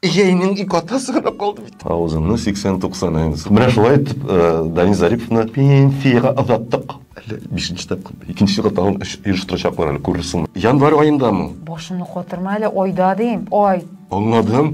Егәйнең ике атасы гына калды бит. Авызыңны 80-90 әйнс. Менә шулай итеп э, Данил Зариповны пенсиягә озаттык. Әле бишенче тапкыр. Икенче елга тагын эш оештырачаклар әле, күрерсең. Январь аендамы? Башымны катырма әле, айда дим. Ай. Аңладым.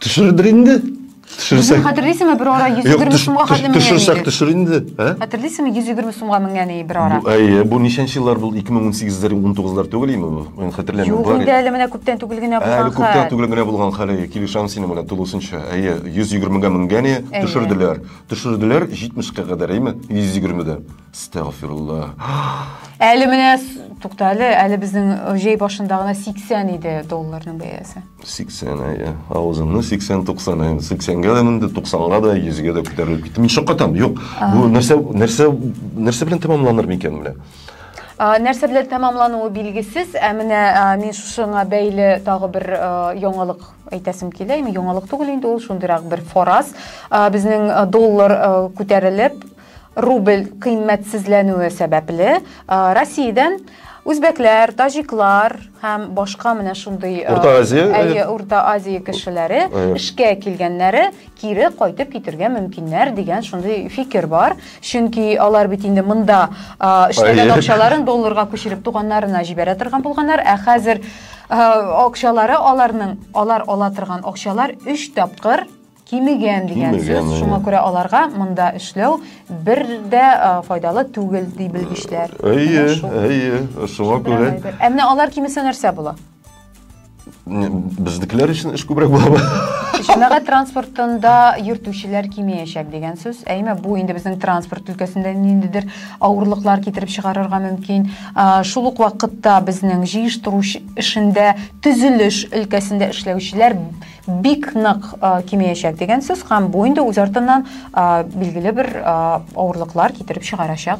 Төшердер инде. Төшерсәк. Хәтерлисеңме бер ара 120 сумга хәтле менгән Төшерсәк төшер инде. Ә? Хәтерлисеңме 120 сумга менгән иде бер ара? Әйе, бу ничәнче еллар бул? 2018-ләр, 19-лар түгел име бу? Мин хәтерләмим. Юк инде әле менә күптән түгел генә булган хәл. Әле күптән түгел генә булган хәл. Килешәм синең белән тулысынча. Әйе, 120 га менгән иде, төшерделәр. Төшерделәр 70 ка кадәр, әйеме? 120 дә. Стәгъфирулла. Әле менә тукта әле, әле безнең җәй башында гына 80 иде долларның бәясе. 80 әйе. Авызымны 80-90 әйе. 80-гә дә менде, 90-га да, 100-гә дә күтәрелеп китте. Мин шаккатам. Юк, бу нәрсә нәрсә нәрсә белән тәмамланыр микән менә? Нәрсә белән тәмамлануы билгесез, ә менә мин шушыңа бәйле тагы бер яңалык әйтәсем килә. Яңалык түгел инде ул, шундыйрак бер фораз. Безнең доллар күтәрелеп, Рубль кыйммәтсезләнүе сәбәпле, Россиядән үзбәкләр, таҗиклар һәм башка менә шундый Урта Азия, әйе, Урта Азия кешеләре эшкә килгәннәре кире кайтып китергә мөмкиннәр дигән шундый фикер бар. Чөнки алар бит инде монда эшләгән акчаларын долларга күчереп туганнарына җибәрә торган булганнар, ә хәзер акчалары аларның, алар ала торган акчалар 3 тапкыр Кимегән дигән сүз, шуңа күрә аларга монда эшләү бер дә файдалы түгел, ди белгечләр. Әйе, әйе, шуңа күрә. Ә менә алар кимесә нәрсә була? Безнекеләр өчен эш күбрәк була. Җәмәгать транспортында йөртүчеләр кимеячәк дигән сүз. Әйме, бу инде безнең транспорт өлкәсендә ниндидер авырлыклар китереп чыгарырга мөмкин. Шул ук вакытта безнең җыештыру эшендә, төзелеш өлкәсендә эшләүчеләр бик нык кимеячәк дигән сүз һәм бу инде үз артыннан билгеле бер авырлыклар китереп чыгарачак.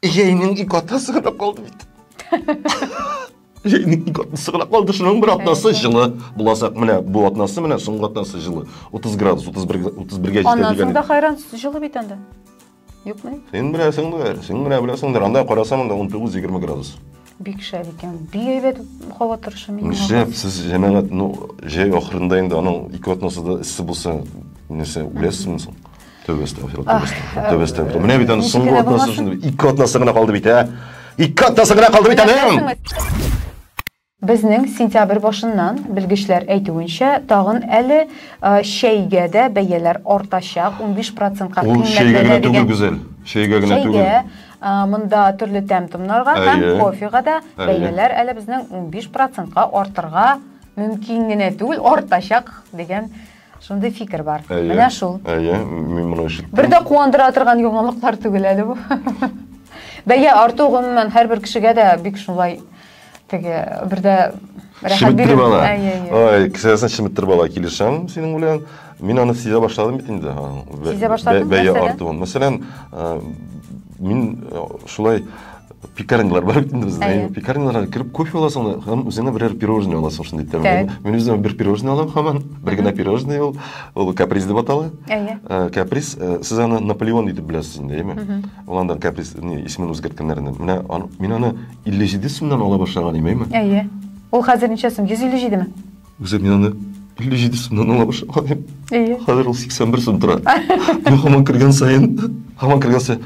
Җәйнең ике атнасы гына калды бит. Җәйнең ике атнасы гына калды, шуның бер атнасы җылы буласак, менә бу атнасы, менә соңгы атнасы җылы. 30 градус, 31 31-гә җитә дигән. Аннан соң да хайран җылы бит анда. Юкмы? Син беләсеңдер, син генә беләсеңдер. Анда карасам, анда 19-20 градус. Бик шәп икән. Бик әйбәт һава торышы мин. Шәп, сез җәмәгать, ну, җәй ахырында инде аның ике атнасы да эссе булса, нәрсә, үләсезме соң? Тәүбә астагфирулла. Тәүбә астагфирулла. Менә бит аны соңгы атнасы шундый. Ике атнасы гына калды бит, ә? Ике атнасы гына калды бит аның. Безнең сентябрь башыннан, белгечләр әйтүенчә, тагын әле чәйгә дә бәяләр артачак, унбиш процентка кыйммәтләнә дигән. Ул чәйгә генә түгел, Гүзәл. Чәйгә генә түгел. Чәйгә, монда төрле тәм-томнарга һәм кофега да бәяләр әле безнең унбиш процентка артырга мөмкин генә түгел, артачак дигән. Шундый фикер бар. Әйе. Менә шул. Әйе, мин моны ишеттем. Бер дә куандыра торган яңалыклар түгел әле бу. Бәя арту гомумән һәрбер кешегә дә бик шулай теге бер дә рәхәт бирә. Әйе, әйе. Ой, кесәсен шиметтереп ала, килешәм синең белән. Мин аны сизә башладым бит инде. Сизә башладым. Бәя артуын. Мәсәлән, мин шулай пекарнялар бар бит инде бездә ә, пекарняларга кереп кофе аласың да һәм үзеңә берәр пирожное аласың шундый тәмле мин үземә бер пирожное алам һаман бер генә пирожное ул ул каприз дип атала әйе ә, каприз ә, сез аны наполеон итеп беләсез инде әйеме ул анда каприз исемен үзгәрткәннәрне менә мин аны илле җиде сумнан ала башлаган идем әйеме әйе ул хәзер ничә сум йөз илле җидеме үзе мин аны илле җиде сумнан ала башлаган идем әйе хәзер ул сиксән бер сум тора мин һаман кергән саен һаман кергән саен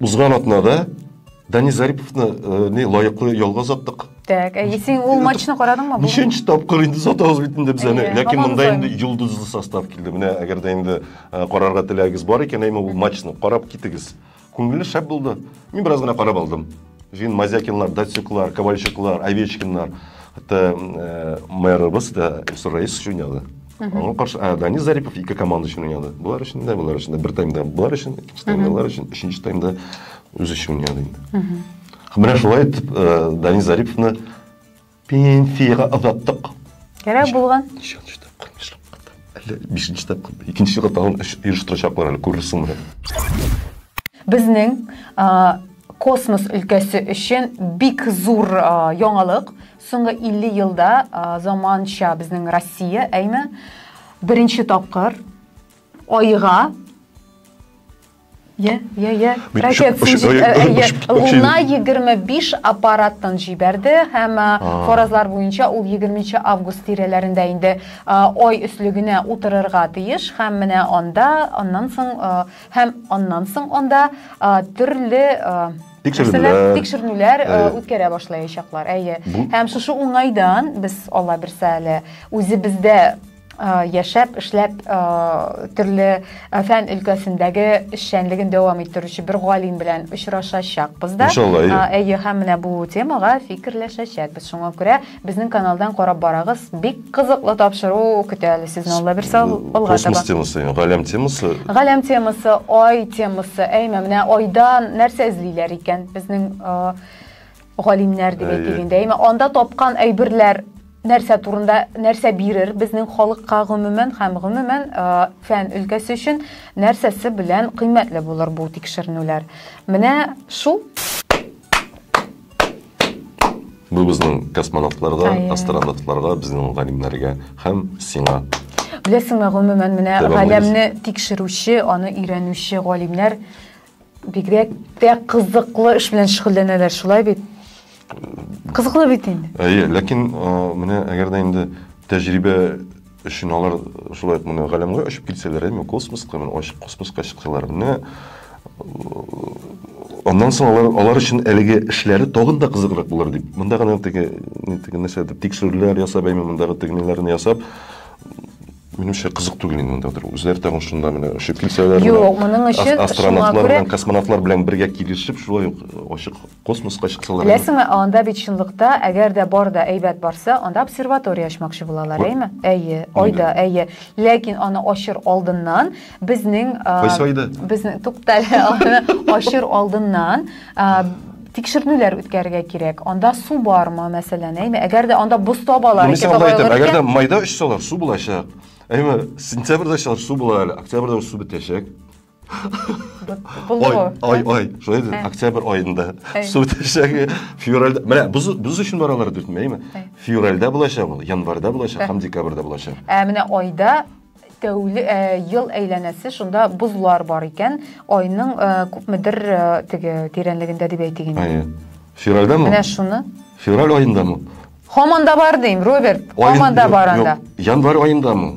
Узган атнада Дани Зариповны э, не лаеклы ялга озаттык. Так, әйе, син ул матчны карадыңмы? Ничәнче тапкыр инде сатабыз бит инде без аны. Ләкин монда инде йолдызлы состав килде. Менә әгәр дә инде э, карарга теләгегез бар икән, әйме ул матчны карап китегез. Күңелле шәп булды. Мин бераз гына карап алдым. Жин Мазякинлар, Датсюклар, Ковальчуклар, Овечкиннар. Хәтта э, мэрыбыз да Рейс уйнады. Аңа каршы ә, Данис Зарипов ике команда өчен уйнады. Болар өчен дә, болар өчен дә. Бер таймда болар өчен, икенче таймда болар өчен, өченче таймда үзе өчен уйнады инде. Менә шулай итеп э, Данис Зариповны пенсияга озаттык. Кәрәк булган. Ничәнче тапкыр эшләп Әллә бишенче тапкыр. Икенче елга тагын эш оештырачаклар әле, күрерсең менә. Безнең космос өлкәсе өчен бик зур яңалык. Соңгы 50 елда заманча безнең Россия, әйме, беренче тапкыр Айга Йә, йә, йә. Луна 25 аппараттан җибәрде һәм фаразлар буенча ул 20 август тирәләрендә инде ай өслегенә утырырга тиеш һәм менә анда аннан соң һәм аннан соң анда төрле Тикшеренүләр. Тикшеренүләр э, үткәрә башлаячаклар. Әйе. Һәм шушы уңайдан без Алла бирсә әле үзебездә Э, яшәп, эшләп, э, төрле э, фән өлкәсендәге эшчәнлеген дәвам иттерүче бер галим белән очрашачакбыз да. Иншалла, әйе. Әйе, һәм менә бу темага фикерләшәчәкбез. Шуңа күрә Безнең каналдан карап барагыз, бик кызыклы тапшыру көтә әле сезне Алла бирсә алга таба. Космос темасы, галәм темасы. Галәм темасы, ай темасы. Әйме, менә айдан нәрсә эзлиләр икән безнең галимнәр дип әйтик инде. Әйме, анда тапкан әйберләр нәрсә турында, нәрсә бирер безнең халыкка гомумән һәм гомумән фән өлкәсе өчен нәрсәсе белән кыйммәтле булыр бу тикшеренүләр. Менә шул Бу безнең космонавтларга, астронавтларга, безнең галимнәргә һәм сиңа. Беләсеңме, гомумән, менә галәмне тикшерүче, аны өйрәнүче галимнәр бигрәк тә кызыклы эш белән шөгыльләнәләр, шулай бит? Кызыклы бит инде. Әйе, ләкин менә әгәр дә инде тәҗрибә Өчен алар шулай ук менә галәмгә очып китсәләр, әйме, космоска, менә ачык космоска чыксалар, менә аннан соң алар, алар өчен әлеге эшләре тагын да кызыграк булыр дип, монда гына теге, теге нәрсәдер, тикшерүләр ясап, әйме, мондагы теге ниләрне ясап, минемчә кызык түгел инде монда утыру. Үзләре тагын шунда менә очып килсәләр, Юк, моның өчен астронавтлар белән, космонавтлар белән бергә килешеп, шулай ук ачык Космоска чыксалар. Беләсеңме, анда бит чынлыкта, әгәр дә бар да әйбәт барса, анда обсерватория ачмакчы булалар, әйме? Әйе, айда, әйе. Ләкин аны ачыр алдыннан безнең Кайсы айда? Безнең туктале, ачыр алдыннан тикшернүләр үткәрергә кирәк. Анда су бармы, мәсәлән, әйме? Әгәр дә анда боз табалар, икән, әгәр дә майда очсалар, су булачак. Әйме, сентябрьдә очсалар, су була әле, октябрьдә су бетәчәк. ой ой ой шулай ди октябрь айында су төшәге февральда менә без без өчен бар алар дүрт әйеме февральда булачак ул январьда булачак һәм декабрьда булачак ә менә айда тәүле ә, ел әйләнәсе шунда бозлар бар икән айның ә, күпмедер ә, теге тирәнлегендә дип әйтик инде әйе февральдамы менә шуны февраль айындамы һаман да бар дим роберт һаман да бар анда январь айындамы